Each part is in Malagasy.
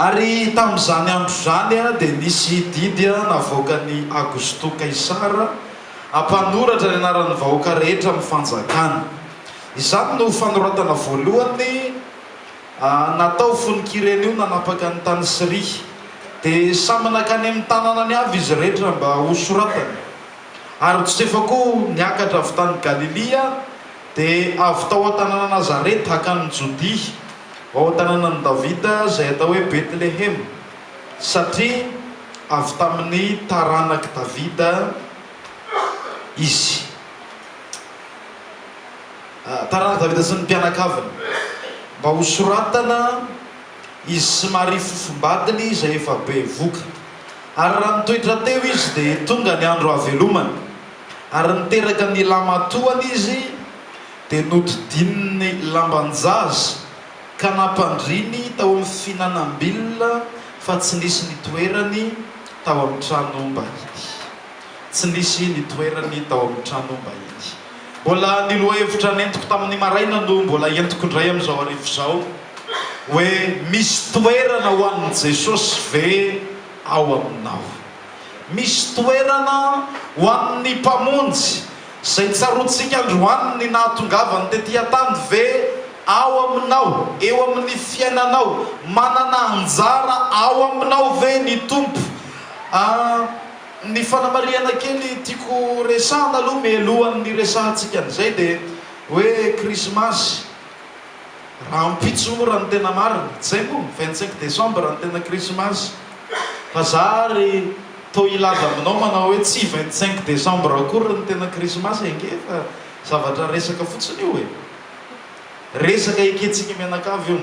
Ary tamin'izany andro izany dia nisy didy navoakan'i Augusto Kaisara hampanoratra ny anaran'ny vahoaka rehetra amin'ny fanjakany. Izany no fanoratana voalohany natao fony Kirenio nanapaka ny tany Syria. Dia samy nankany amin'ny tananany avy izy rehetra mba hosoratany. Ary Josefa koa niakatra avy tany Galilia. Dia avy tao an-tanàna Nazareta hakan'i Jodia, ao an-tanànan'i Davida, izay atao hoe Betlehema, satria avy tamin'ny taranak'i Davida izy. Taranak'i Davida sy ny mpianakaviny. Mba hosoratana izy sy Maria fofombadiny izay efa bevoka. Ary raha nitoetra teo izy dia tonga ny andro hahavelomany. ary niteraka ny lamatoany izy dia nodidininy lamban-jaza ka nampandriny tao amin'ny fihinanam-bilona fa tsy nisy nitoerany tao amin'ny tranom-bahiny. Tsy nisy nitoerany tao amin'ny tranom-bahiny. Mbola ny lohahevitra nentiko tamin'ny maraina no mbola entiko indray amin'izao hariva izao hoe misy toerana ho an'i Jesosy ve ao aminao? Misy toerana ho an'ny Mpamonjy izay tsaroantsika androany ny nahatongavany tetỳ an-tany ve? Ao aminao, eo amin'ny fiainanao, manana anjara ao aminao ve ny Tompo? Ny fanamarihana kely tiako resahana aloha mialohan'ny hiresahantsika an'izay dia hoe Krismasy. Rahampitso moa raha ny tena marina. Izay moa, vingt cinq décembre no tena krismasy. Fa za ary toa hilaza aminao manao hoe tsy vingt cinq décembre akory no tena krismasy ange fa zavatra resaka fotsiny io e. Resaka ekentsika mianakavy io.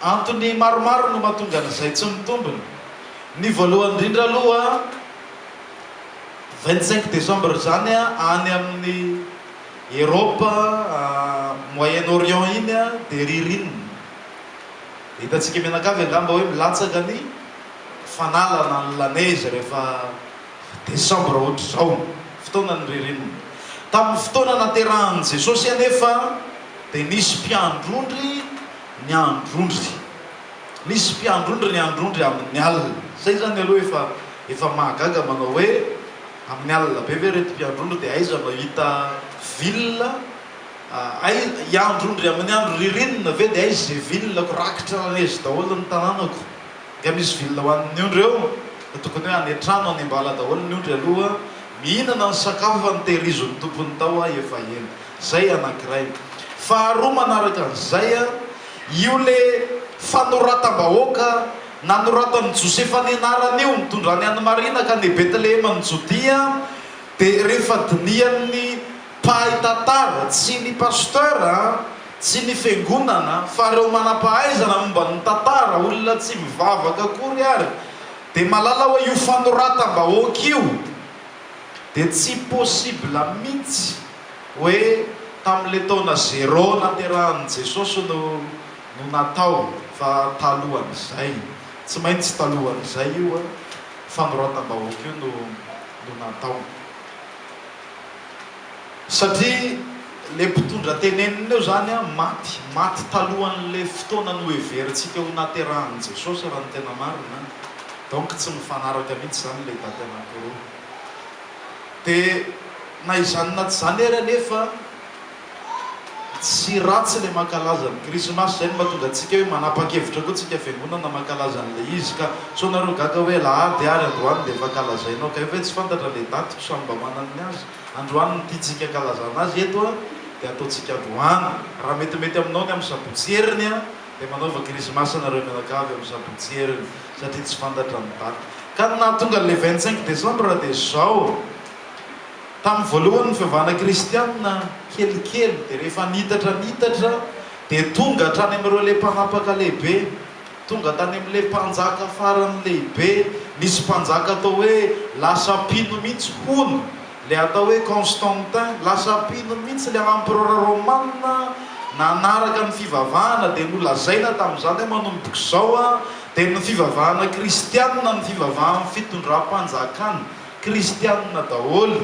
Antony maromaro no mahatonga an'izay tsy mitombina. Ny voalohany indrindra aloha, vingt cinq décembre izany any amin'ny. Eropa, Moyen Orient iny dia ririnina. Hitantsika mianakavy angamba hoe milatsaka ny fanalana ny la neige rehefa desambra ohatr'izao, fotoanan'ny ririnina. Tamin'ny fotoana naterahan'i Jesosy anefa dia nisy mpiandrondry niandrondry. Nisy mpiandrondry niandrondry amin'ny alina. Izay izany aloha efa efa mahagaga manao hoe. Amin'ny alina be ve ireto mpiandry ondry dia aiza no hahita villa hiandry ondry amin'ny andro ririnina ve dia aiza izay villa ko rakitra lanezy daholo ny tananako nga misy villa ho an'ny ondry eo? tokony hoe any an-trano any am-bala daholo ny ondry aloha mihinana ny sakafo fa ny tehirizon'ny tompony tao ahy efa eny. Izay anankiray. Faharoa manaraka an'izay, io ilay fanoratam-bahoaka. Nanoratan'i Josefa ny anaran'io mitondra ny an'i Maria ka ny Betleheman'i Jodia dia rehefa dinihan'ny mpahay tantara, tsy ny pasteur, tsy ny fiangonana, fa ireo manam-pahaizana momba ny tantara, olona tsy mivavaka akory ary, dia mahalala hoe io fanoratam-bahoaka io dia tsy possible mihitsy hoe tamin'ilay taona zéro naterahan'i Jesosy no no natao fa talohan'izay, tsy maintsy talohan'izay io fanoratam-bahoaka io no no natao. Satria le mpitondra tenenina eo zany maty, maty talohan'le fotoana noheverintsika ho naterahan'i Jesosy raha ny tena marina an, donc tsy mifanaraka mihitsy zany le daty anankiroa. De na izany na tsy izany ary anefa, Tsy ratsy ilay mankalaza ny krismasy, izay no mahatonga antsika hoe manapa-kevitra koa tsika fiangonana mankalaza an'ilay izy ka. Sao nareo gaga hoe alahady ary androany dia efa kalazainao kay ve? Tsy fantatra ilay daty ko samy mba manana ny azy. Androany no tiantsika ankalazana azy eto a, dia ataontsika androany. Raha metimety aminao ny amin'ny sabotsy heriny a, dia manaova krismasy nareo mianakavy amin'ny sabotsy heriny, satria tsy fantatra ny daty. Ka ny nahatonga an'ilay vingt cinq décembre dia izao. Tamin'ny voalohany ny fivavahana kristianina kelikely dia rehefa nitatra nitatra dia tonga hatrany amin'ireo le mpanapaka lehibe, tonga tany amin'ny le mpanjaka farany lehibe, nisy mpanjaka atao hoe lasa mpino mihitsy hono le atao hoe Constantin, lasa mpino mihitsy le empereur romana nanaraka ny fivavahana dia nolazaina tamin'izany hoe manomboka izao dia ny fivavahana kristianina ny fivavahan'ny fitondram-panjakana. Kristianina daholo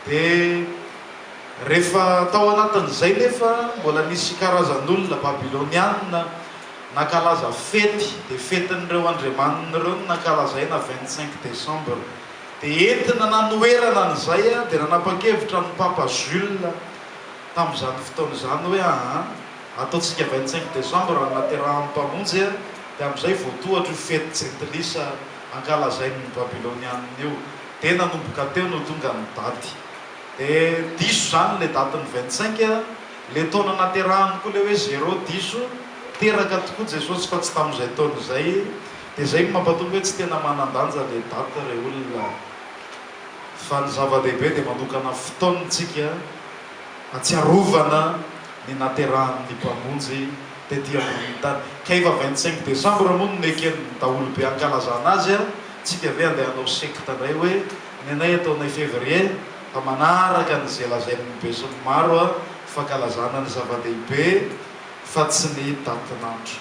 dia rehefa tao anatin'izay nefa mbola nisy karazan'olona babylonianina nankalaza fety dia fetin'ireo andriamaniny ireo no nankalazaina vingt cinq décembre dia entina nanoherana an'izay dia nanapa-kevitra ny papa Jules tamin'izany fotoana izany hoe aa ataontsika vingt cinq décembre ny naterahan'ny mpamonjy dia amin'izay voatohatra io fety jentilisa ankalazain' ny Babilônianina io, dia nanomboka teo no tonga ny daty, dia diso izany ilay daty ny vingt cinq, ilay taona naterahany koa ilay hoe zéro diso, teraka tokoa Jesosy fa tsy tamin' izay taona izay, dia izay no mampatonga hoe tsy tena manan-danja ilay daty ry olona, fa ny zava-dehibe dia manokana fotoana isika hatsiarovana ny naterahan' ny Mpamonjy. tety amboniny tany. Ka efa vingt cinq décembre moa no neken ny daholo be ankalazana azy a, tsika ve andeha hanao secte ndray hoe ny anay ataonay février fa manaraka an ze lazain ny be sy ny maro a, fankalazana ny zava dehibe fa tsy ny date n'andro.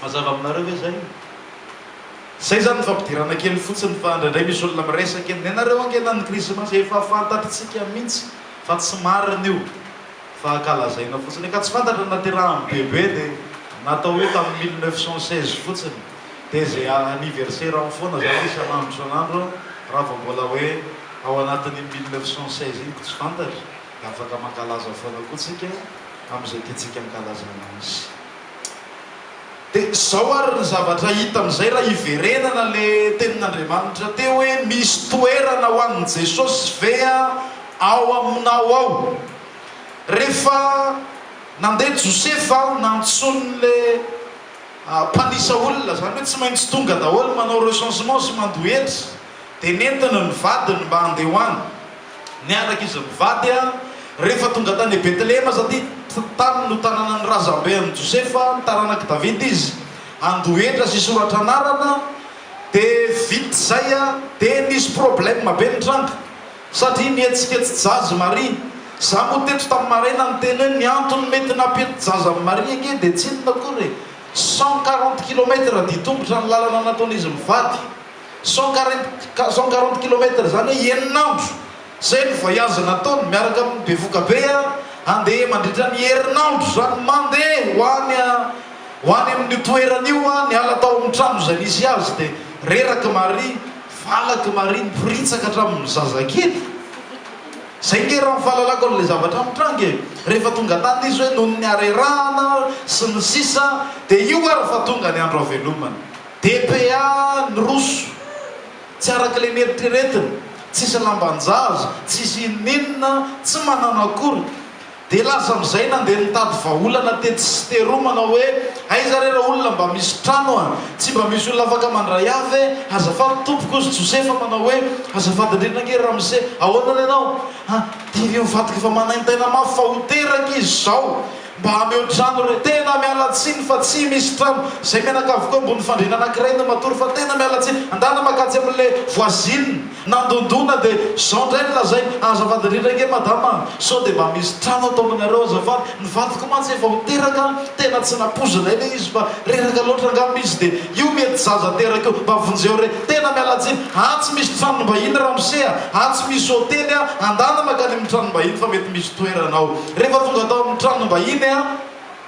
Mazava aminareo ve zay? Zay zany ny fampidirana kely fotsiny fa ndraindray misy olona miresaka hoe nenareo ange na ny krismasy efa fantatry tsika mintsy fa tsy marina io. fa ankalazaina fotsiny ka tsy fantatra ny naterahany be be dia natao hoe tamin'ny mille neuf cent seize fotsiny dia izay anniversaire any foana zany isan'andro isan'andro raha vao mbola hoe ao anatin'iny mille neuf cent seize iny ko tsy fantatra dia afaka mankalaza foana koa tsika amin'izay tiantsika ankalazana azy. Dia izao ary ny zavatra hita amin'izay raha hiverenana le tenin'Andriamanitra teo hoe misy toerana ho an'i Jesosy ve ao aminao ao. Rehefa nandeha Josefa nantsoiny le mpanisa olona, izany hoe tsy maintsy tonga daholo manao recensement sy mandoa hetra. dia nentina ny vadiny mba handeha ho any. Niaraka izy mivady an. Rehefa tonga tany Betlehema sady tany no tanànan'ny razambe an'i Josefa, taranak'i Davida izy, handoa hetra sy hisoratra anarana, dia vita izay an, dia nisy problème be nitranga, satria nihetsiketsi-jaza i Maria. Izaho moa teto tamin'ny maraina niteny hoe ny antony mety nampihetsi-jaza an'i Maria ange dia tsy inona akory e, cent quarante kilomètre dia tongotra ny lalana nataon'izy mivady. Cent quarante cent quarante kilomètre zany hoe enina andro zay ny voyage nataony miaraka amin'ny bevoka be a, handeha mandritra ny herinandro zany mandeha ho any a ho any amin'io toerana io a, niala tao amin'ny trano izay nisy azy dia reraky Maria, valaky Maria, niporitsaka hatramin'ny zazakely. Zay nge raha ny fahalalako an'ilay zavatra mitranga e! rehefa tonga tany izy hoe noho ny harerahana sy ny sisa dia io ary fa tonga ny andro havelomany. DPA niroso, tsy araka ilay neritreretina, tsisy lamban-jaza, tsisy inoninona, tsy manana akory. Dia lasa amin'izay nandeha nitady vahaolana tetsy sy teroa manao hoe, aiza re ireo olona mba misy trano a? Tsy mba misy olona afaka mandray ahy ve? Azafady tompoko, hozy Josefa manao hoe, azafady indrindra ange Ramose, ahoana re ianao? An, dia ireo vadiko efa manaintaina mafy fa ho teraka izy izao. Mba hameo trano re. Tena miala tsiny fa tsy misy trano. Zay menaka avokoa ambony fandriana anakiray no matory fa tena miala tsiny. Andana makatsy amin'le voisine nandondona de zao ndray no lazainy. Azafady indrindra ange madama a! Sao de mba misy trano ataominareo azafady. Ny vadiko mantsy efa ho teraka an! Tena tsy nampoizinay le izy fa reraka loatra angamba izy de io mety zaza teraka io. Mba vonjeo re. Tena miala tsiny. Atsy misy tranom-bahiny ramose a! Atsy misy hotely a! Andana makany amin'ny tranom-bahiny fa mety misy. Toerana ao. Rehefa tonga tao amin'ny tranom-bahiny aho,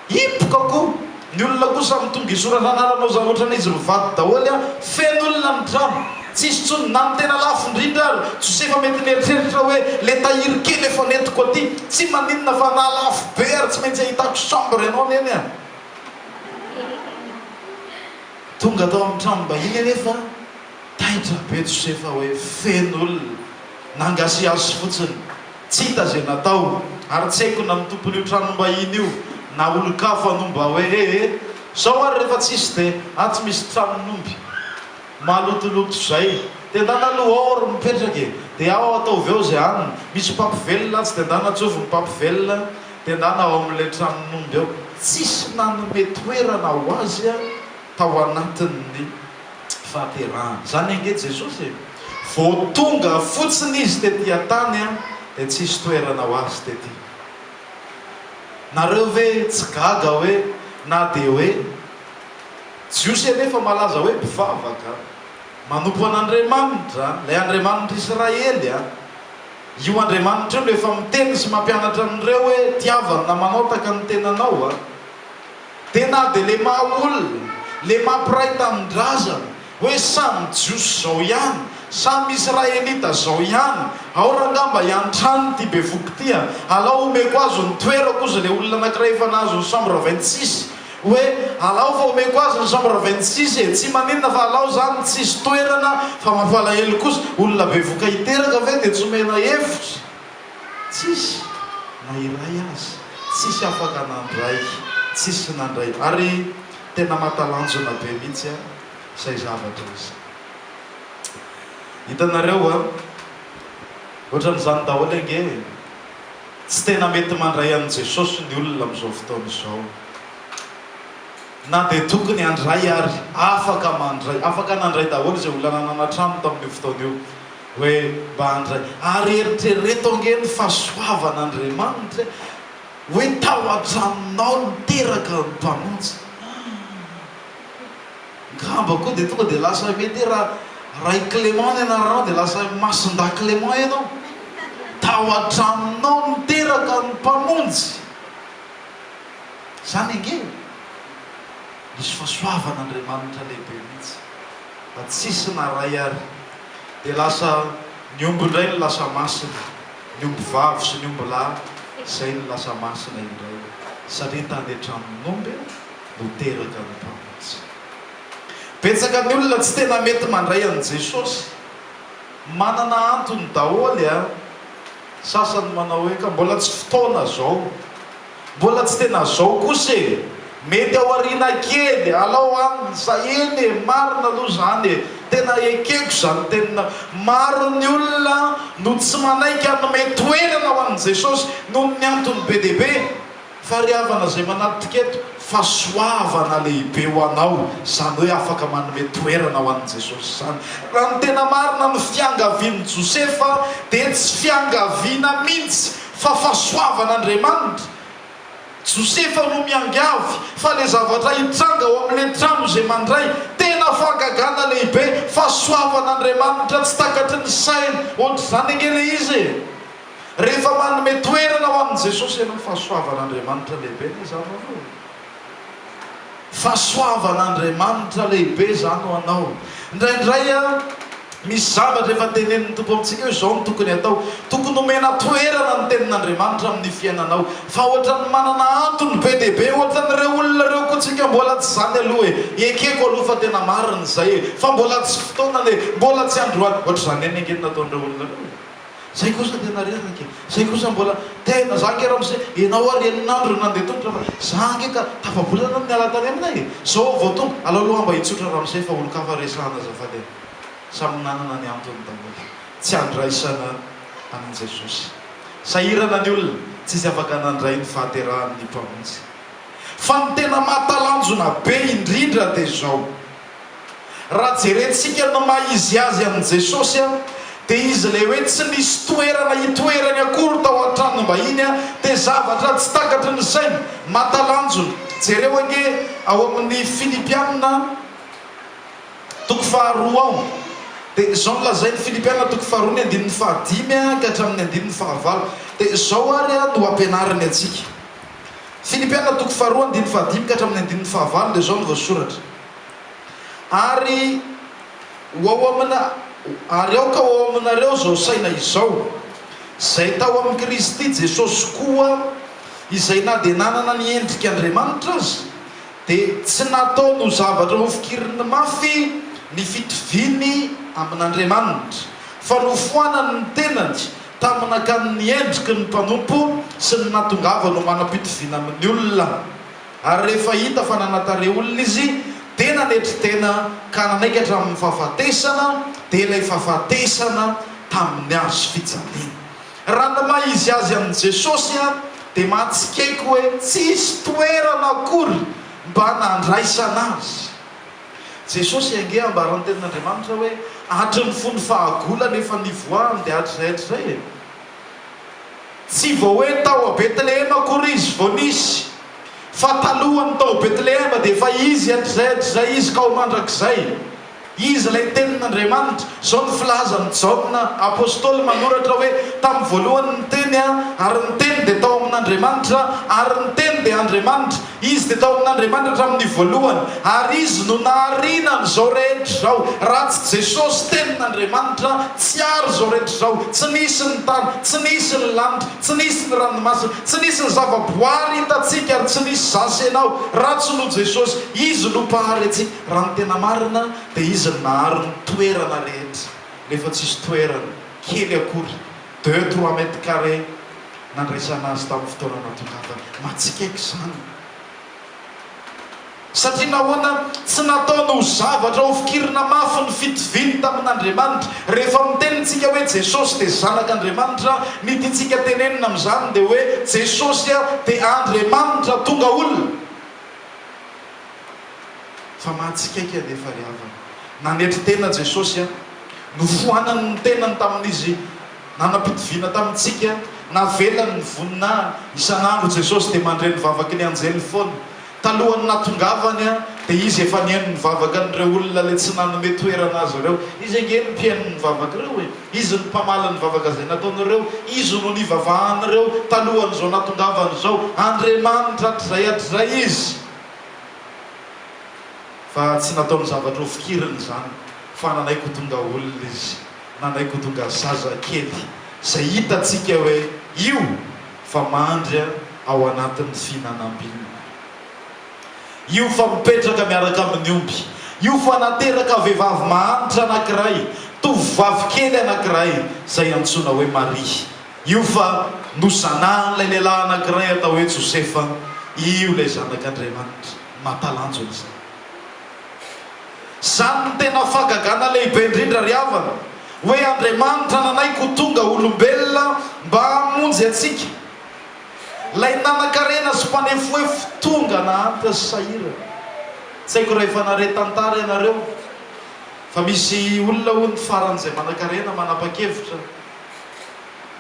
hipoka koa. Ny olona koa samy tonga hisoratra anarana oza ohatrany izy mivady daholo an! Feno olona ny trano. Tsy hisy intsony na ny tena lafo indrindra ary. Josefa mety nieritreritra hoe, le tahiry kely efa nentiko aty, tsy maninona fa na lafo be ary tsy maintsy ahitako chambre ianao neny an! Tonga tao amin'ny tranom-bahiny anefa, taitra be Josefa hoe feno olona. Nangasiasy fotsiny. Tsy hita izay natao, ary tsy haiko na ny tompon'io tranom-bahiny io na olon-kafa no mba hoe he he, zao ary rehefa tsisy dia atsy misy tranon'omby malotoloto zay, dia ndana aloha ao ry mipetraka e, dia ao ataovy ao izay any misy mpampivelona atsy dia ndana atsovy ny mpampivelona dia ndana ao amin'ilay tranon'omby ao. Tsisy nanome toerana ho azy tao anatin'ny. fahaterahana. Izany ange Jesosy e! Vao tonga fotsiny Izy tety an-tany dia tsy hisy toerana ho Azy tety. Nareo ve tsy gaga hoe na dia hoe Jiosy anie efa malaza hoe mpivavaka, manompo an'Andriamanitra, ilay Andriamanitr' Israely a! Io Andriamanitra io no efa miteny sy mampianatra an'ireo hoe tiavany na manaotaka ny tenanao a! Dia na dia le maha olona, le maha mpiray tanindrazana, hoe samy jiosy zao ihany, samy israelita zao ihany, ao raha angamba hiantrano ity bevohoka ity a, alao omeko azy ny toerako ozy le olona anakiray efa nahazo ny chambre vingt six, hoe alao fa omeko azy ny chambre vingt six e, tsy maninona fa alao zany tsisy toerana fa mampalahelo kosa, olona bevohoka hiteraka ve dia tsy omena hevitra? Tsisy na iray aza. Tsisy afaka nandray. Tsisy nandray. Ary tena mahatalanjona be mihitsy an izay zavatra izay. Hitanareo an? Ohatran'izany daholo ange e. Tsy tena mety mandray an'i Jesosy ny olona amin'izao fotoana izao. Na dia tokony handray ary. Afaka mandray. Afaka nandray daholo izay olona nanana trano tamin'io fotoana io. Hoe mba handray. Ary eritrereto ange ny fahasoavan'Andriamanitra e! Hoe tao an-tranonao niteraka ny Mpamonjy. Angamba koa dia tonga dia lasa mety hoe raha Ray Clément ny anaranao dia lasa Masindahy Clément ianao. Tao an-tranonao niteraka ny Mpamonjy. Izany ange e! Nisy fahasoavan'Andriamanitra lehibe mihitsy fa tsisy naray ary. dia lasa ny omby indray no lasa masina, ny omby vavy sy ny omby lahy izay no lasa masina indray, satria tany an-tranon'omby no teraka ny mpamonjy. Betsaka ny olona tsy tena mety mandray an'i Jesosy. Manana antony daholo an! Sasany manao hoe, ka mbola tsy fotoana izao, Mbola tsy tena zao kosa e! Mety aoriana kely, alao an! Za eny e! Marina aloha zany e! Tena ekeko zany tenina! Maro ny olona no tsy manaiky hanome toerana ho an'i Jesosy noho ny antony be dia be! Fariavana zay manattika eto, fahasoavana lehibe ho anao zany hoe afaka manome toerana ho an'i Jesosy zany! Raha ny tena marina ny fiangavian'i Josefa dia tsy fiangaviana mintsy! Fa fahasoavan' Andriamanitra. Josefa no miangavy fa le zavatra hitranga ao amle trano izay mandray tena fahagagana lehibe, fahasoavan' Andriamanitra tsy takatry ny saina, ohatr'izany ange le izy e! Rehefa manome toerana ho an'i Jesosy ianao, fahasoavan' Andriamanitra lehibe anie izany ho anao e! Fahasoavan'Andriamanitra lehibe izany ho anao. Indraindray misy zavatra efa tenenin'ny Tompo amintsika hoe izao no tokony atao. Tokony homena toerana ny tenin'Andriamanitra amin'ny fiainanao. Fa ohatran'ny manana antony be dia be, ohatran'ireo olona ireo koa tsika mbola tsy izany aloha e! Ekeko aloha fa tena marina izay e! Fa mbola tsy fotoanany e! Mbola tsy androany! Ohatr'izany ihany ange ny nataon'ireo olona ireo e! Zay kosa tena reraka e! Zay kosa mbola tena za ange ramose enao ary eninandro no nandeha tongotra fa za ange ka tafabolana no miala tany aminay e! Zao vao tonga! Alao aloha hamba hitsotra ramose fa olon-kafa resahana azafady e! Samy nanana ny antony daholo! Tsy handraisana an'i Jesosy! Sahirana ny olona! Tsy izy afaka nandray ny fahaterahan'ny Mpamonjy! Fa ny tena mahatalanjona be indrindra dia zao! Raha jerentsika ny maha izy azy an'i Jesosy dia izy ilay hoe tsy nisy toerana hitoerany akory tao an-tranom-bahiny dia zavatra tsy takatry ny sainy, mahatalanjona. Jereo ange ao amin'ny Filipiana toko faharoa ao dia izao no lazainy, Filipiana toko faharoa ny andininy fahadimy ka hatramin'ny andininy fahavalo dia izao ary no ampianariny antsika. Filipiana toko faharoa andininy fahadimy ka hatramin'ny andininy fahavalo dia izao no voasoratra, Ary ho ao amina, ary aoka ho ao aminareo izao saina izao, izay tao amin'i Kristy Jesosy koa, izay na dia nanana ny endrik'Andriamanitra aza, dia tsy nataony ho zavatra hofikiriny mafy ny fitoviany amin'Andriamanitra, fa nofoanany ny tenany, Tamin'akany ny endriky ny mpanompo sy ny nahatongavany ho manam-pitoviana amin'ny olona. Ary rehefa hita fa nanatare olona izy, dia nanetry tena ka nanaiky hatramin'ny fahafatesana, dia ilay fahafatesana tamin'ny hazo fijaliana. Raha ny maha izy azy an'i Jesosy aho, dia mahatsikaiky hoe tsisy toerana akory mba nandraisana azy. Jesosy ange ambaran tenin Andriamanitra hoe hatry ny fony fahagolany efa nivoahany dia hatrizay hatrizay e! Tsy vao hoe tao a Betlehema akory izy vao nisy fa talohany tao Betlehema dia efa izy hatrizay hatrizay izy ka ho mandrakizay izy ilay tenin Andriamanitra izao ny filazan Jaona apostoly manoratra hoe tamin'ny voalohany ny teny ary ny teny dia tao amin Andriamanitra ary ny teny dia Andriamanitra Izy dia tao amin'Andriamanitra hatramin'ny voalohany, ary Izy no nahariana an'izao rehetra izao. Raha tsy Jesosy, Tenin'Andriamanitra, tsy àry izao rehetra izao. Tsy nisy ny tany, tsy nisy ny lanitra, tsy nisy ny ranomasina, tsy nisy ny zavaboary hitantsika, ary tsy nisy izaho sy ianao, raha tsy noho Jesosy. Izy no Mpahary antsika. Raha ny tena marina, dia Izy no nahary ny toerana rehetra, nefa tsy hisy toerana kely akory Deux trois mètres carrés nandraisana azy tamin'ny fotoana natokavany. Mahatsikaiky izany. Satria nahoana tsy nataony ho zavatra hofikirina mafy ny fitoviany tamin'Andriamanitra? Rehefa miteny isika hoe Jesosy dia Zanak'Andriamanitra, ny tiantsika tenenina amin'izany dia hoe Jesosy dia Andriamanitra tonga olona. Fa mahatsikaiky anefa ry havana. Nanetry tena Jesosy an! Nofoanany ny tenany tamin'izy nanam-pitoviana tamintsika. Navelany ny voninahiny. Isan'andro Jesosy dia mandre ny vavaky ny anjely foana. Talohan'ny nahatongavany dia izy efa nihaino ny vavakan'ireo olona ilay tsy nanome toerana azy ireo. Izy ange no mpihaino ny vavak'ireo e! Izy no mpamaly ny vavaka izay nataon'ireo. Izy no nivavahan'ireo talohan'izao nahatongavany izao. Andriamanitra hatrizay hatrizay Izy. Fa tsy nataony zavatra ho fikiriny izany, fa nanaiko ho tonga olona izy, nanaiko ho tonga zazakely, izay hitantsika hoe io fa mandry ao anatin'ny fihinanam-bilona, io fa mipetraka miaraka amin'ny omby, io fa nateraka vehivavy mahantra anankiray, tovovavy kely anankiray izay antsoina hoe Maria. Io fa nozanahan'ilay lehilahy anankiray atao hoe Josefa io ilay Zanak'Andriamanitra. Mahatalanjona izany. Izany no tena fahagagana lehibe indrindra ry havana, hoe Andriamanitra nanaiky ho tonga olombelona mba hamonjy antsika. Ilay nanankarena sy mpanefoefo tonga nahantra sy sahirana. Tsy haiko raha efa nare tantara ianareo, fa misy olona hono faran'izay manankarena manapa-kevitra,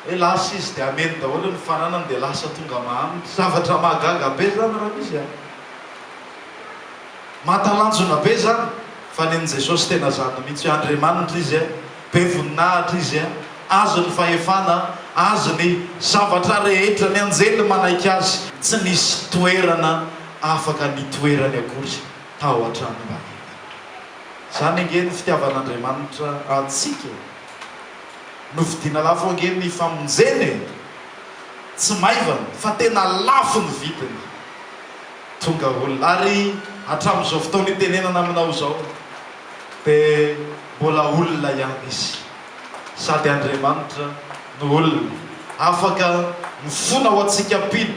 Hoe lasa izy dia hameno daholo ny fananany dia lasa tonga mahantra. Zavatra mahagaga be izany raha misy an! Mahatalanjona be izany fa nen'i Jesosy tena zany mihitsy hoe Andriamanitra Izy an, be voninahitra Izy an, Azy ny fahefana an, Azy ny zavatra rehetra, ny anjely manaiky Azy. Tsy nisy toerana afaka nitoerany akory tao an-tranom-baventy. Izany ange ny fitiavan'Andriamanitra antsika e! Novidiana lafo ange ny famonjena e! Tsy maivana fa tena lafo ny vidiny. Tonga olona ary hatramin'izao fotoana hitenenana aminao izao dia mbola olona ihany izy. Sady Andriamanitra no olona afaka mifona ho antsika mpino.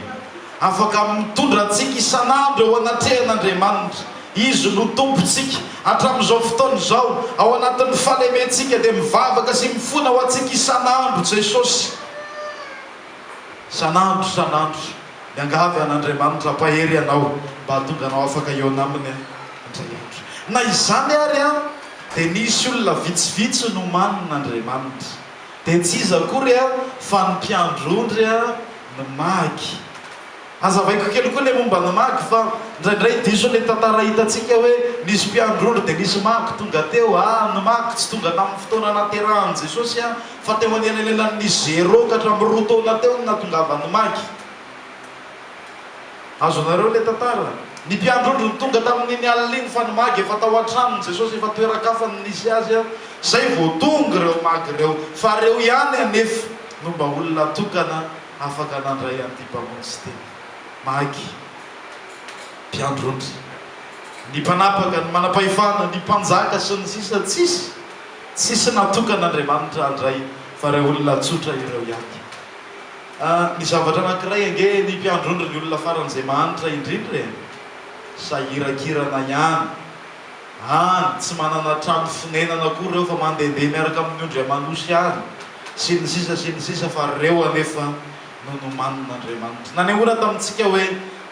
Afaka mitondra antsika isan'andro eo anatrehan'Andriamanitra. Izy no Tompontsika. Hatramin'izao fotoana izao, ao anatin'ny fahalementsika, dia mivavaka sy mifona ho antsika isan'andro Jesosy. Isan'andro, isan'andro. Miangavy an'Andriamanitra hampahery anao mba hahatonga anao afaka hihaona Aminy indray andro. Na izany ary, dia nisy olona vitsivitsy nomanin'Andriamanitra. Dia tsy iza akory fa ny mpiandry ondry ny magy. Hazavaiko kely koa ilay momba ny magy fa indraindray diso ny tantara hitantsika hoe nisy mpiandry ondry dia nisy magy tonga teo. Aah, ny magy tsy tonga tamin'ny fotoana nahaterahan'i Jesosy aho fa teo anelanelan'ny zéro ka hatramin'ny roa taona teo no nahatongavan'ny magy. Azonareo ilay tantara? Ny mpiandrondro nitonga tamin'iny alina iny fa ny magy efa tao an-tranon'i Jesosy, efa toeran-kafa no nisy azy an! Zay vao tonga ireo magy ireo, fa ireo ihany anefa no mba olona tokana afaka nandray an'ity mpamonjy tena. Magy, mpiandrondro, ny mpanapaka, ny manam-pahefana, ny mpanjaka sy ny sisa tsisy, tsisy natokan'Andriamanitra handray fa ireo olona tsotra ireo ihany. Ny zavatra anankiray ange ny mpiandron-dry ny olona faran'izay mahantra indrindra e! Sahiran-kirana ihany. Any, tsy manana trano fonenana koa ireo fa mandehandeha miaraka amin'ny ondry aman'osy any, sy ny sisa sy ny sisa fa ireo anefa no nomanin'Andriamanitra. Nanehoana tamintsika hoe.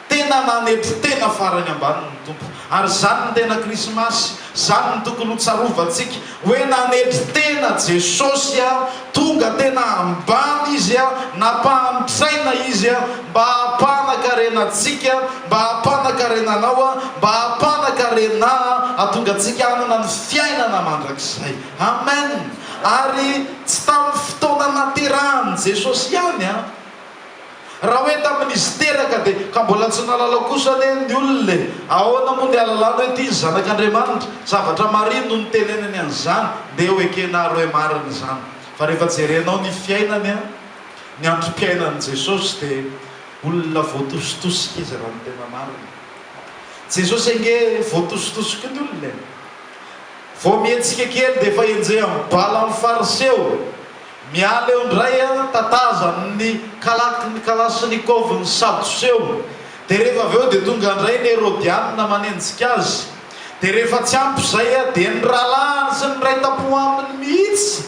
Tena nanetry tena farany ambany ny Tompo. Ary izany no tena Krismasy. Izany no tokony ho tsarovantsika. Hoe nanetry tena Jesosy aho, tonga tena ambany Izy aho, nampahantraina Izy aho, mba hampanan-karena antsika, mba hampanan-karena anao aho, mba hampanan-karena aho, hahatonga antsika hanana ny fiainana mandrakizay. Amen! Ary tsy tamin'ny fotoana naterahan'i Jesosy ihany an! Raha hoe tamin'izy teraka dia ka mbola tsy nahalala kosa anie ny olona e! Ahoana moa ny ahalalana hoe tia ny Zanak'Andriamanitra? Zavatra marina no nitenenany an'izany, ndeha ho ekena ary hoe marina izany. Fa rehefa jerenao ny fiainany an! ny androm-piainan'i Jesosy dia olona voatositosika izy raha ny tena marina. Jesosy ange voatositosika ny olona e! Vao mihetsika kely dia efa enjehan'ny bala ny Fariseo. Miala eo indray an, tataza amin'ny kalaky ny kalashnikov ny sadoseo, dia rehefa avy eo dia tonga indray ny herodianina manenjika azy, dia rehefa tsy ampy izay an, dia ny rahalahiny sy ny niray tampo aminy mihitsy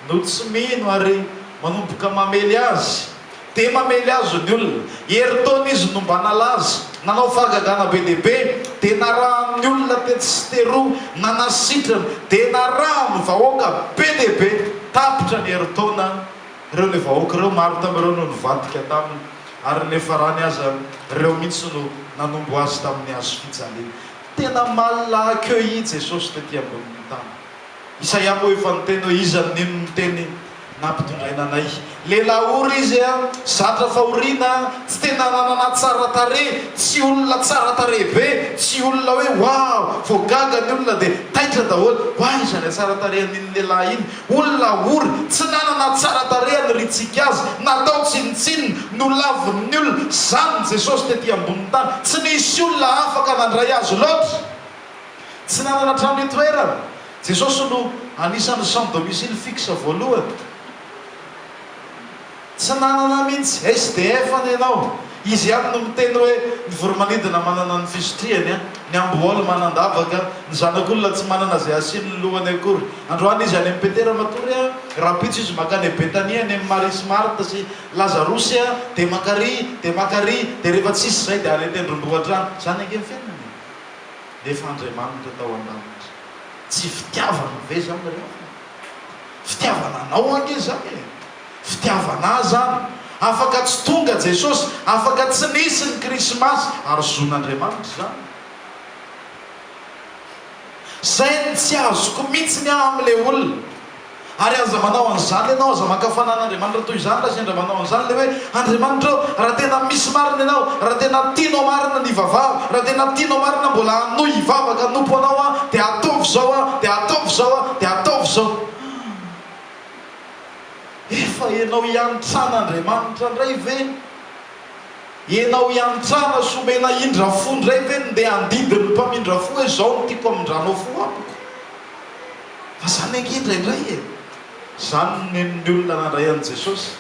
no tsy mino ary manomboka mamely azy, dia mamely azy ny olona. Herintaona izy no mba nalaza, nanao fahagagana be dia be, dia narahan'ny olona tetsy sy teroa, nanasitrana, dia narahan'ny vahoaka be dia be. Tapitra ny herintaona ireo ilay vahoaka ireo, maro tamin'ireo no nivadika taminy, ary ny farany aza ireo mihitsy no nanombo azy tamin'ny hazo fijaliana. Tena mal accueilli Jesosy tety ambonin'ny tany. Isaia moa efa niteny hoe, Iza no nino ny teny nampitondraina anay? Lehilahy ory izy, zatra fahoriana, tsy tena nanana tsara tarehy, tsy olona tsara tarehy be, tsy olona hoe waouh! Vao gaga ny olona dia taitra daholo, Oay iza ilay tsara tarehy an'iny lehilahy iny? Olona ory, tsy nanana tsara tarehy haniriantsika azy, natao tsinontsinona, nolavin'ny olona, izany Jesosy tety ambonin'ny tany. Tsy nisy olona afaka nandray azy loatra. Tsy nanana trano itoerana. Jesosy no anisan'ny sans domicile fixe voalohany. Tsy nanana mihitsy. SDF anie ianao. Izy ihany no miteny hoe, ny voromanidina manana ny fisotriany, ny amboaly manan-davaka, ny zanak'olona tsy manana izay hasiany ny lohany akory. Androany Izy any amin'i Petera matory a, rahampitso Izy mankany Betania any amin'i Maria sy Marta sy Lazarosy a, dia mankaria, dia mankaria, dia rehefa tsisy izay dia any an-tendrombohitra any. Izany ange ny fiainana e. nefa Andriamanitra tao an-danitra. Tsy fitiavana ve izany ry havana? Fitiavana anao ange izany e! Fitiavana Ahy izany. Afaka tsy tonga Jesosy, afaka tsy nisy ny Krismasy, ary zon'Andriamanitra izany. Izay no tsy azoko mihitsy aho amin'ilay olona. Ary aza manao an'izany ianao, aza maka fanan'Andriamanitra toy izany raha sendra manao an'izany ilay hoe, Andriamanitra ô, raha tena misy marina Ianao, raha tena tianao marina ny hivavaha, raha tena tianao marina mbola hanohy hivavaka hanompo Anao aho, dia ataovy izao aho, dia ataovy izao aho, dia ataovy izao. Ah! Efa henao hiantsan'Andriamanitra indray ve? Henao hiantsana sy omena indra fo indray ve ny ndeha handidy ny mpamindra fo hoe izao no tiako hamindranao fo amiko? Fa zany ange indraindray e! Zany no nenon'ny olona nandray an'i Jesosy.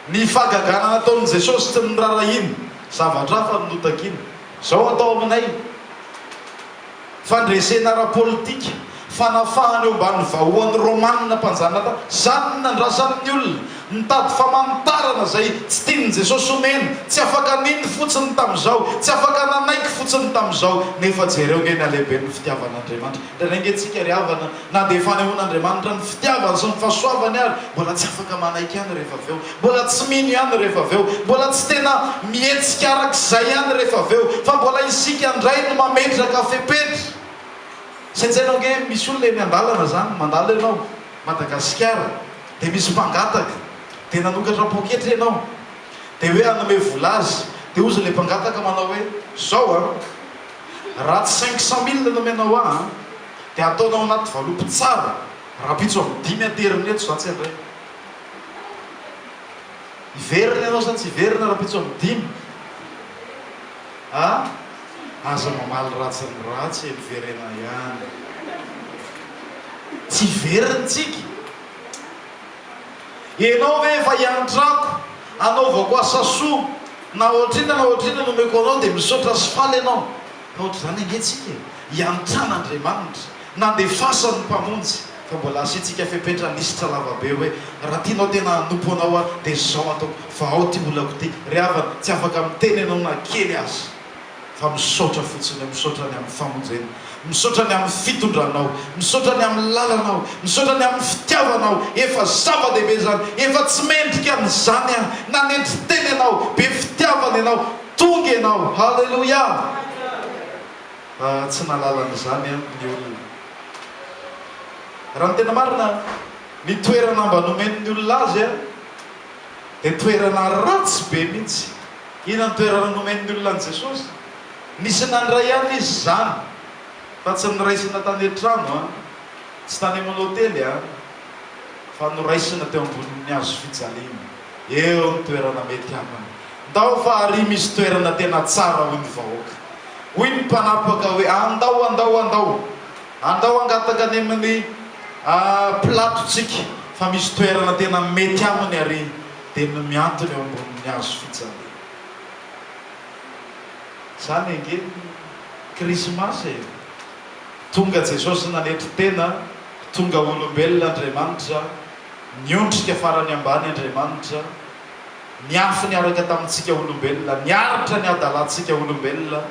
Ny fahagagana nataon'i Jesosy tsy norarahiny, zavatra hafa no notakiny. Zao atao aminay, fandresena ara-politika, fanafahana eo ambanin'ny vahohany Romanina mpanjanaka, zany no nandrasan'ny olona. Mitady famantarana izay tsy tian'i Jesosy omena, tsy afaka nino fotsiny tamin'izao, tsy afaka nanaiky fotsiny tamin'izao, nefa jereo nge ny halehiben'ny fitiavan'Andriamanitra. Dia indraindray nge tsika ry havana, na dia fanehoan'Andriamanitra ny fitiavany sy ny fahasoavany ary, mbola tsy afaka manaiky ihany rehefa avy eo, mbola tsy mino ihany rehefa avy eo, mbola tsy tena mihetsika arak'izay ihany rehefa avy eo, fa mbola isika indray no mametraka fepetra. Saintsaino ange, misy olona eny an-dalana izany, mandalo ianao, Madagasikara, Dia misy mpangataka, dia nanokatra poketra ianao, dia hoe hanome vola azy, dia hozy ilay mpangataka manao hoe, izao an, raha tsy cinq cent mille nomenao ahy an, dia ataonao anaty valopy tsara, rapitso amin'ny dimy aterina eto, za tsy handray. Hiverina ianao sa tsy hiverina rapitso amin'ny dimy? a! Aza mamaly ratsy ny ratsy e, miverena ihany. Tsy very ny tsiky. Ianao ve efa iantrako anaovako asa soa na ohatr'inona na ohatr'inona no omeko anao dia misaotra sy faly ianao? Fa ohatr'izany ange tsika e, iantran'Andriamanitra, nandefasany ny Mpamonjy. Fa mbola asiantsika fepetra lisitra lavabe hoe raha tianao tena hanompo anao aho dia izao ataoko fa ao ity olako ity ry havana tsy afaka miteny ianao na kely aza fa misaotra fotsiny aho misaotra ny amin'ny famonjena misaotra ny amin'ny fitondranao misaotra ny amin'ny lalanao misaotra ny amin'ny fitiavanao efa zava-dehibe izany efa tsy mendrika an'izany aho nanetry tena ianao be fitiavana ianao tonga ianao haleloia fa tsy nahalala an'izany aho ny olona Raha ny tena marina, ny toerana mba nomen'ny olona azy dia toerana ratsy be mihitsy. Inona ny toerana nomen'ny olona an'i Jesosy? Nisy nandray ihany izy izany, fa tsy noraisina tany an-trano, tsy tany amin'ny hotely, fa noraisina teo ambonin'ny hazo fijaliana. Eo ny toerana mety aminy. Ndao fa ary misy toerana tena tsara hoy ny vahoaka. Hoy ny mpanapaka hoe andao andao andao. Andao hangataka any amin'ny Pilatontsika fa misy toerana tena mety aminy ary dia ny mihantona eo ambonin'ny hazo fijaliana. Izany ange ny Krismasy e! Tonga Jesosy nanetry tena, tonga olombelona Andriamanitra. Niondrika farany ambany Andriamanitra, niafy niaraka tamintsika olombelona, niaritra ny hadalantsika olombelona,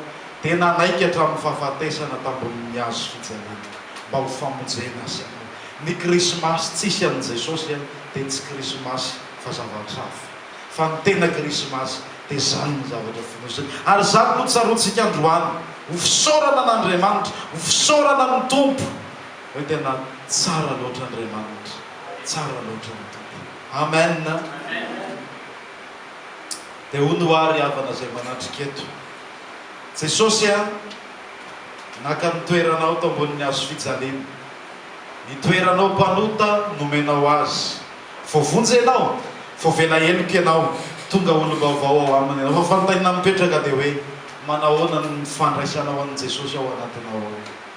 dia nanaiky hatramin'ny fahafatesana tambonin'ny hazo fijaliana mba ho famonjena isika. Ny Krismasy tsisy an'i Jesosy dia tsy Krismasy fa zavatra hafa, fa ny tena Krismasy dia izany ny zavatra fonosiny. Ary izany no tsaroantsika androany, ho fisaorana an'Andriamanitra, ho fisaorana ny Tompo. Hoe tena tsara loatra Andriamanitra, tsara loatra ny Tompo. Amen! Dia hoy ny hoary havana izay manatrika eto, Jesosy a, naka ny toeranao tao ambonin'ny hazo fijaliana, ny toeranao mpanota nomenao azy. Voavonjy ianao, voavela heloka ianao, tonga olom-baovao ao Aminy ianao. Fa fanontaniana mipetraka dia hoe, manahoana ny fandraisanao an'i Jesosy ao anatinao ao?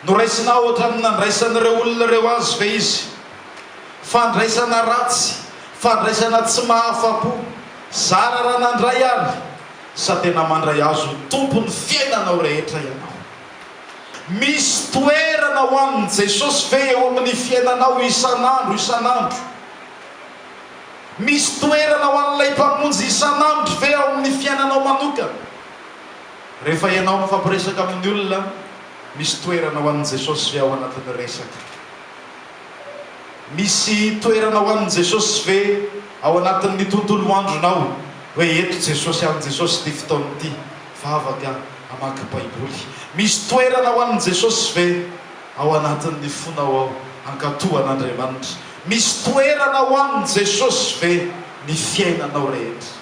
Noraisinao ohatran'ny nandraisan'ireo olona ireo azy ve izy? Fandraisana ratsy, fandraisana tsy mahafa-po. Zara raha nandray ary, sa tena mandray azy ho tompon'ny fiainanao rehetra ianao? Misy toerana ho an'i Jesosy ve eo amin'ny fiainanao isan'andro isan'andro? Misy toerana ho an'ilay Mpamonjy isan'andro ve ao amin'ny fiainanao manokana? Rehefa ianao mifampiresaka amin'ny olona, misy toerana ho an'i Jesosy ve ao anatin'ny resaka? Misy toerana ho an'i Jesosy ve ao anatin'ny tontolo andronao? Hoe eto Jesosy any Jesosy ity fotoana ity, vavaka, hamaky Baiboly. Misy toerana ho an'i Jesosy ve ao anatin'ny fonao ao? Hankatò an'Andriamanitra. Misy toerana ho an'i Jesosy ve ny fiainanao rehetra?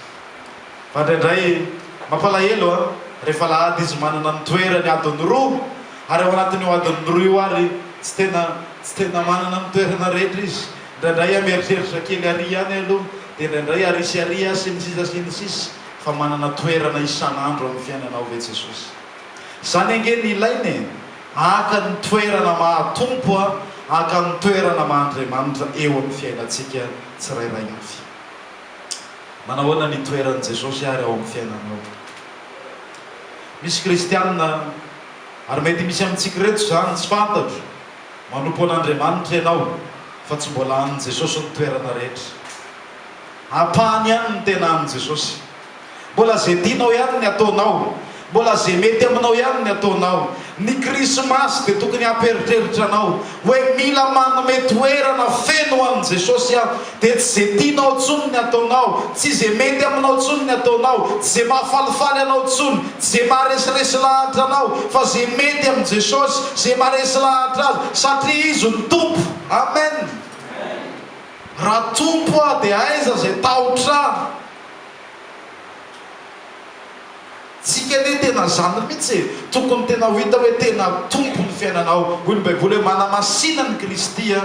Fa indraindray mampalahelo an! rehefa alahady izy manana ny toerany adiny roa ary ao anatin'io adiny roa io ary tsy tena tsy tena manana ny toerana rehetra izy, indraindray an mieritreritra kely ary ihany aloha dia indraindray ary sy ary sy ny sisa sy ny sisa fa manana toerana isan'andro amin'ny fiainanao ve Jesosy? Izany ange ny ilaina e! Haka ny toerana maha Tompo an! Haka ny toerana maha Andriamanitra eo amin'ny fiainantsika tsirairay avy. Manahoana ny toeran'i Jesosy àry ao amin'ny fiainanao? Misy Kristianina, ary mety misy amintsika ireto izany, tsy fantatro. Manompo an'Andriamanitra ianao, fa tsy mbola an'i Jesosy ny toerana rehetra. Ampahany ihany ny tena an'i Jesosy. Mbola izay tianao ihany ny ataonao. Mbola izay mety aminao ihany ny ataonao. Ny Krismasy dia tokony hampieritreritra anao hoe mila manome toerana feno ho an'i Jesosy aho. Dia tsy izay tianao intsony ny ataonao, tsy izay mety aminao intsony ny ataonao, tsy izay mahafalifaly anao intsony, tsy izay maharesiresiy lahatra anao, fa izay mety amin'i Jesosy, izay maharesy lahatra Azy, satria Izy no Tompo. Amen! Raha Tompo aho dia aiza izay tahotra ahy? Tsika anie tena zany mihitsy e! Tokony tena ho hita hoe tena Tompo ny fiainanao. Hoy ny Baiboly hoe manamasina an'i Kristy ho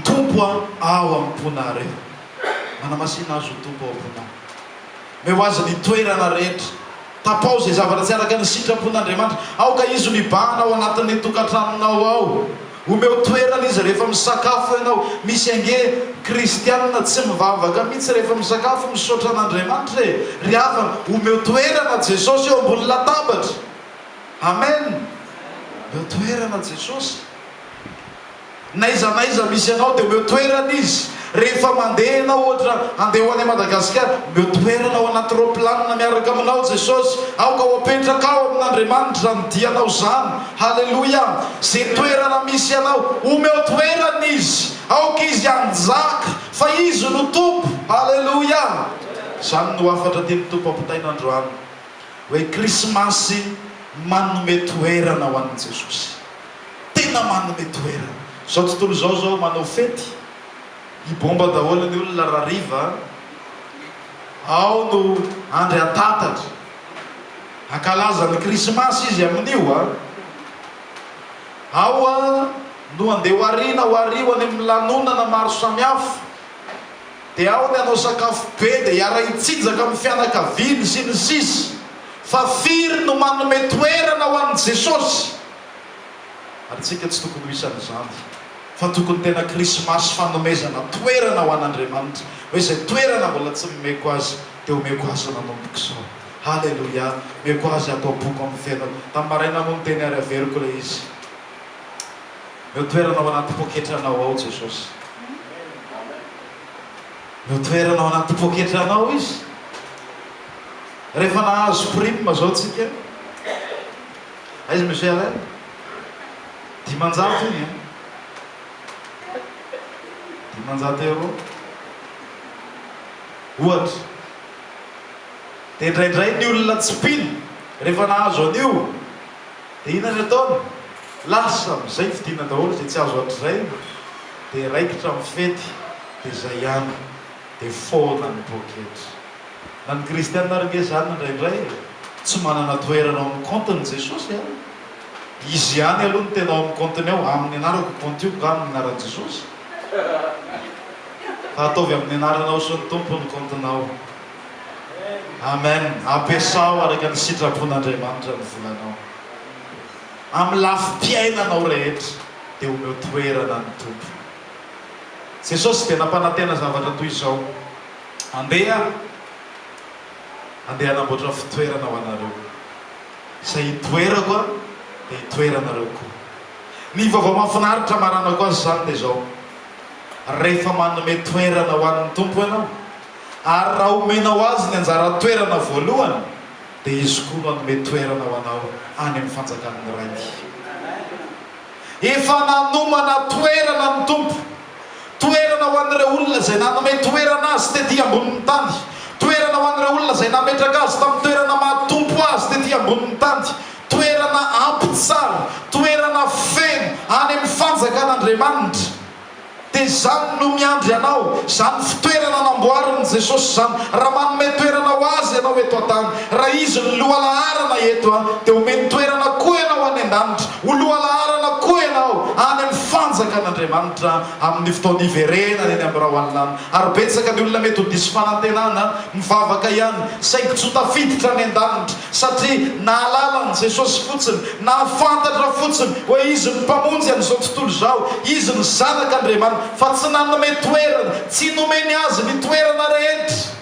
Tompo ao am-ponareo. Manamasina Azy ho Tompo ao am-ponao. Omeo Azy ny toerana rehetra. Tapaho izay zavatra tsy araka ny sitrapon'Andriamanitra. Aoka izy ho mibahana ao anatin'ny tokantranonao ao. Omeo toerana izy rehefa misakafo ianao. Misy ange kristiana tsy mivavaka mihitsy rehefa misakafo. Misaotra an'Andriamanitra e! Ry havana, omeo toerana Jesosy eo ambony latabatra. Amen! Omeo toerana Jesosy. N'aiza n'aiza misy anao dia omeo toerana izy, rehefa mandeha ianao ohatra handeha ho any à Madagasikara, omeo toerana ao anaty raoplanina miaraka aminao Jesosy, aoka ho apetraka ao amin'Andriamanitra izany dianao izany, haleloia, ze toerana misy anao omeo toerana izy, aoka izy hanjaka fa izy no Tompo, haleloia, izany no hafatra tian'ny Tompo ampitaina androany hoe krismasy manome toerana ho an'i Jesosy. tena manome toerana. Zao tontolo izao zao manao fety i bomba daholo ny olona ra riva ao no andry antatatra ankalaza ny krismasy izy aminio a ao a no andeha ho arina ho ario any amin'ny lanonana maro samihafa de ao ny anao sakafo be de hiara hitsinjaka amin'ny fianakaviany sy ny sisa fa firy no manome toerana ho an'i jesosy Ary tsika tsy tokony ho isan'izany, fa tokony tena Krismasy fanomezana toerana ho an'Andriamanitra, hoe izay toerana mbola tsy nomeko Azy, dia omeko Azy nanomboko izao. Haleloia! Omeko Azy ato am-poko amin'ny fiainako. Tamin'ny maraina moa no teny ary averiko ilay izy. Omeo toerana ao anaty poketranao ao Jesosy. Omeo toerana ao anaty poketranao Izy. Rehefa nahazo prime izao tsika, Aiza Monsieur Allen? Dimanjato iny an! Dimanjato euro ohatra. Dia indraindray ny olona tsy mpino rehefa nahazo an'io dia inona ny ataony? Lasa amin'izay vidiana daholo izay tsy azo hatrizay dia raikitra amin'ny fety dia izay ihany dia foana ny poketra. Na ny kristiana ary nge zany indraindray e! Tsy manana toerana ao amin'ny compte ny Jesosy an! Izy ihany aloha no tena ao amin'ny compte-ny ao, aminy anarako io compte io nga amin'ny anaran'i Jesosy? Fa ataovy amin'ny anaranao sy ny Tompo ny compte-nao. Amen! Ampiasao araka ny sitrapon'Andriamanitra ny volanao. Amin'ny lafim-piainanao rehetra dia omeo toerana ny Tompo. Jesosy dia nampanantena zavatra toy izao. Andeha Andeha hanamboatra fitoerana ho anareo. Izay hitoerako an, dia hitoeranareo koa. Ny vaovao mahafinaritra maranako azy izany dia izao, rehefa manome toerana ho an'ny Tompo ianao, ary raha omenao Azy ny anjara toerana voalohany, dia Izy koa no hanome toerana ho anao any amin'ny fanjakan'ny Rainy. Efa nanomana toerana ny Tompo. Toerana ho an'ireo olona izay nanome toerana azy tetỳ ambonin'ny tany. Toerana ho an'ireo olona izay nametraka azy tamin'ny toerana maha-tompo azy tetỳ ambonin'ny tany. Toerana ampy tsara, toerana feno, any amin'ny Fanjakan'Andriamanitra. Dia izany no miandry anao, izany fitoerana namboarin'i Jesosy izany. Raha manome toerana ho azy ianao eto an-tany, raha izy no lohalaharana eto, dia omeny toerana koa ianao any an-danitra. Ho lohalaharana koa ianao any amin'ny Fanjakan'Andriamanitra amin'ny fotoana hiverenany eny amin'ny rahoalinany. Ary betsaka ny olona mety ho diso fanantenana, mivavaka ihany, saingy tsy ho tafiditra any an-danitra, satria nahalala an'i Jesosy fotsiny, nahafantatra fotsiny hoe Izy no Mpamonjy an'izao tontolo izao, Izy no Zanak'Andriamanitra, fa tsy nanome toerana, tsy nomeny azy ny toerana rehetra.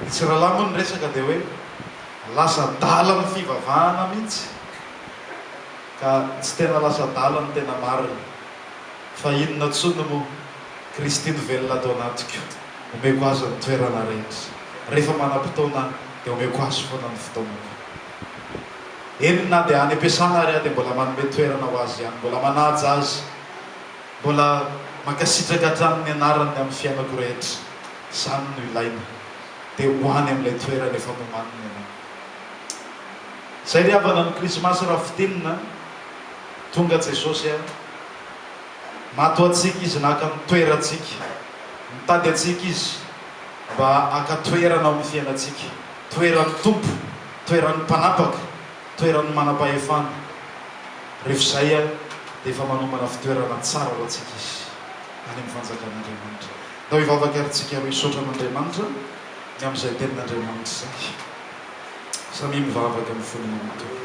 Ny tsiralahy moa ny resaka dia hoe lasa adala ny fivavahana mihitsy ka tsy tena lasa adala ny tena marina fa inona tsony moa Kristy no velona ato anatiko omeko azy ny toerana rehetra rehefa manam-potoana dia omeko azy foana ny fotoanako eny na dia any am-piasana ary aho dia mbola manome toerana ho azy ihany mbola manaja azy Mbola mankasitraka hatrany ny anarany amin'ny fiainako rehetra, izany no ilaina dia ho any amin'ilay toerana efa nomaniny ianao. Izay ry havana ny krismasy raha fintinina an! Tonga Jesosy an! Mato antsika Izy naka ny toerantsika, mitady antsika Izy mba haka toerana ao amin'ny fiainantsika, toeran'ny Tompo, toeran'ny mpanapaka. Toeran'ny manam-pahefana. Rehefa izay dia efa manombana fitoerana tsara ho antsika izy any amin'ny fanjakan'Andriamanitra. Ndao hivavaka ary tsika roa hisaotra an'Andriamanitra ny amin'izay tenin'Andriamanitra izay. Samia mivavaka amin'ny fony manontolo.